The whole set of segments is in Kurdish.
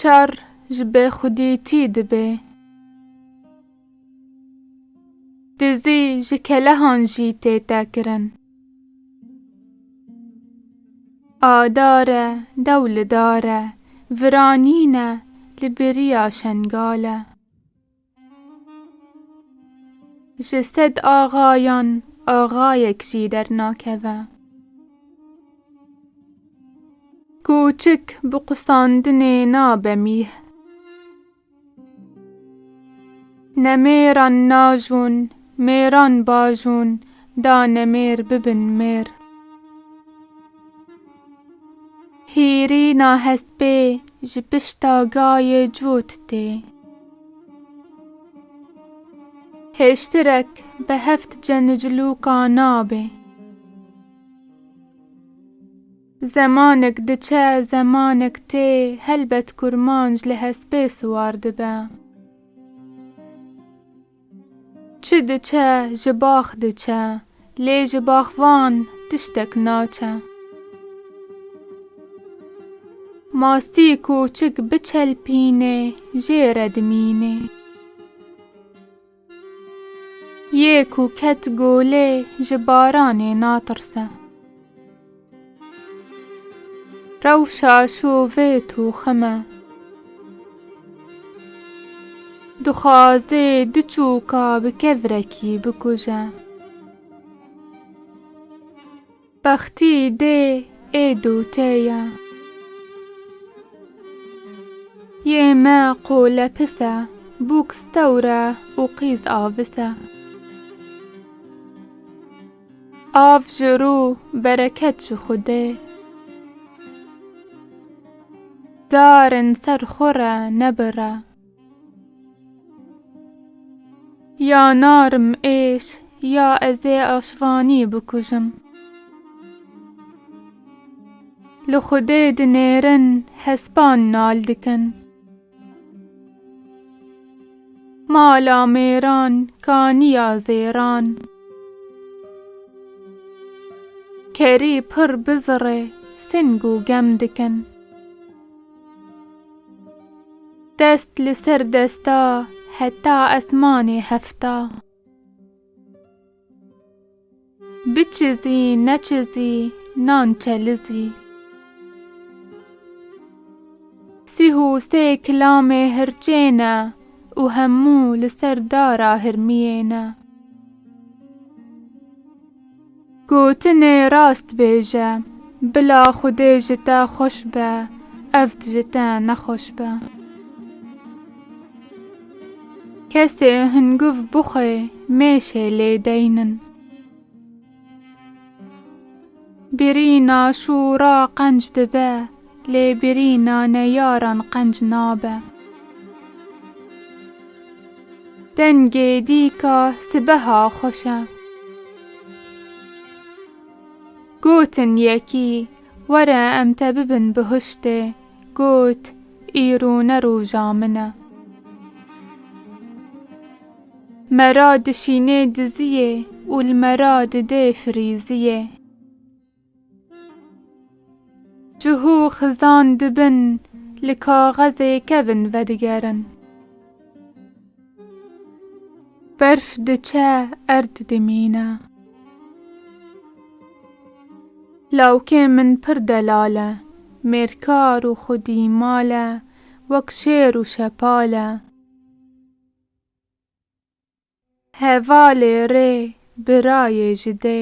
Şer ji bêxwedîtî dibe. Dizî ji kelehan jî tê tekirin. A dar e dew li dar e, viranîn e li biriya Şengal e. Ji sed axayan axayek jî dernakeve. Kûçik bi qusandinê nabe mîh. Ne mêran najûn, mêran bajûn da nemêr bibin mêr. Hîrîna hespê ji pişta gayê cût tê. Hêştirek bi heft cenicilûka nabe. Zemanek diçe zemanek tê helbet kurmanc li hespê siwar dibe. Çi diçe ji bax diçe. Lê ji baxvan tiştek naçe. Mastî ku çik biçelpînê jê re dimînê. Yê ku ket golê ji baranê natirse. Rewşa şû vê tûxim e. Dixwazê du çûka bi kevrekî bikuje. Bextî dê ê dûtê ye. Yê me qole pis e. Bûk stewr e û qîz avis e. Av ji rû bereket ji Xwedê. Darin ser xwe re nebire. Ya narim êş ya ez ê aşvanî bikujim. Li Xwedê dinêrin hespan nal dikin. Mala mêran kaniya zêran. Kerî pir bizirê sing û gem dikin. Dest li ser desta heta esmanê hefta. Biçizî neçizî nan çelizî. Sî hû sê kilamê hirçê ne û hemû li ser dara hirmiyê ne. Gotinê rast bêje, bila Xwedê ji te xweş be, evd ji te nexweş be. Kesê hinguv bixwe mêşe lê deynin. Birîna şûra qenc dibe lê birîna neyaran qenc nabe. Dengê dîka sibeha xweş e. Gotin yekî were em te bibin bi huştê. Got, Îro ne roja min e. Me ra dişînê diziyê û li me ra didê firîziyê. Cih û xizan dibin li kaxezê kevin vedigerin. Berf diçe erd dimîne. Lawikê min pir delal e. Mêrkar û xwedî mal e. Wek şêr û şepal e. Hevalê rê birayê ji dê.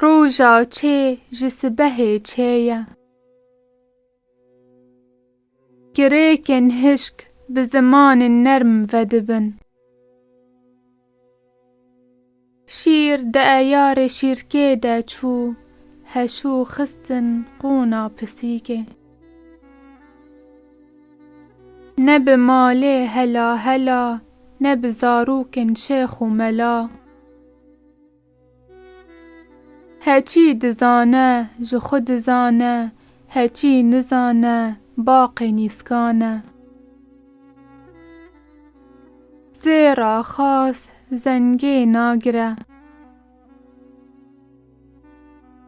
Roja çê ji sibehê çê ye. Girêkên hişk bi zimanên nerm vedibin. Şîr di eyarê şîrkê de çû heşû xistin qûna pisîkê. Ne bi malê hela hela Ne bi zarokên şêx û mela. Heçî dizane ji xwe dizane, heçî nizane baqê nîskan e. Zêra xas zengê nagire.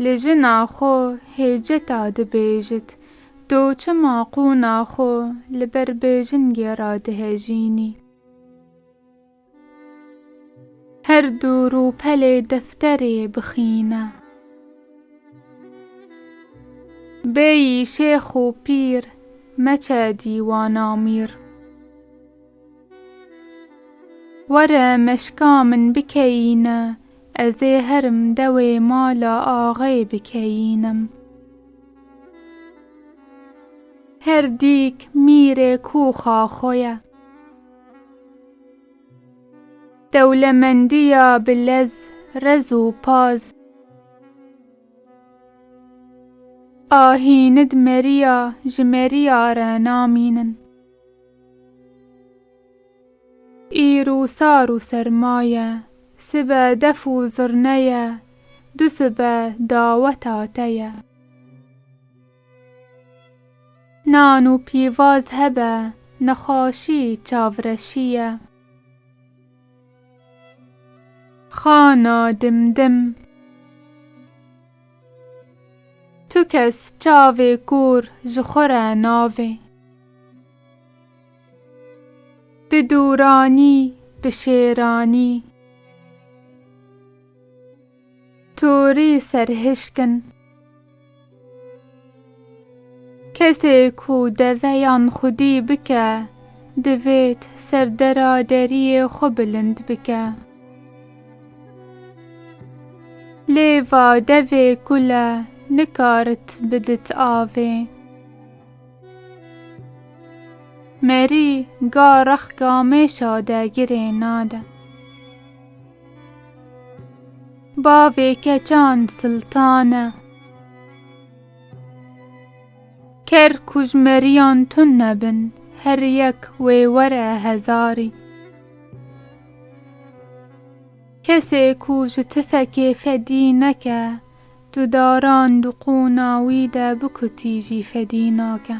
Li jina xwe hêceta dibêjit, to çima qûna xwe li ber bêjingê re dihejînî? Her du rûpelê defterê bixîne. Bêyî şêx û pîr, meçe dîwana mîr. Were meşka min bikeyîne. Ez ê herim dewê mala axê bikeyînim. Her dîk mîrê kûxa xwe ye. Dewlemendiya bi lez, rez û paz. Ahînid meriya ji meriya re namînin. Îro sar û serma ye, sibe def û zirne ye, du sibe daweta te ye. Nan û pîvaz hebe, nexaşî çavreşî ye. Xana dim dim. Tu kes çavê kûr ji xwe re navê. Bi dûranî, bi şêranî. Torî serhişk in. Kesê ku deveyan xwedî bike, divêt serdera deriyê xwe bilind bike. Lê va devê kule nikarit bidit avê. Merî ga rexka mêşa de girê nade. Bavê keçan siltan e. Ker ku ji meriyan tund nebin, her yek wê were hezarî. Kesê ku ji tifekê fedî neke, du daran di qûna wî de bikutî jî fedî nake.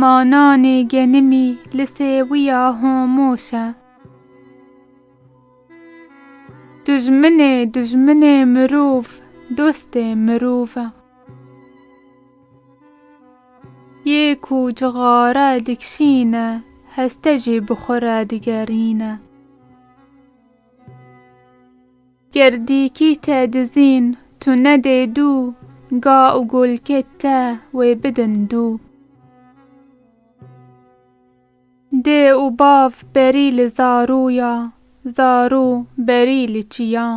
Ma nanê genimî li sêwiya homoş e. Dijminê dijminê mirov, dostê mirov e. Yê ku cixare dikişîne, heste jî bi xwe re digerîne. Ger dîkî te dizîn tu nedê dû, ga û golkê te wê bidin dû. Dê û bav berî li zarû ya, zarû berî li çiyan.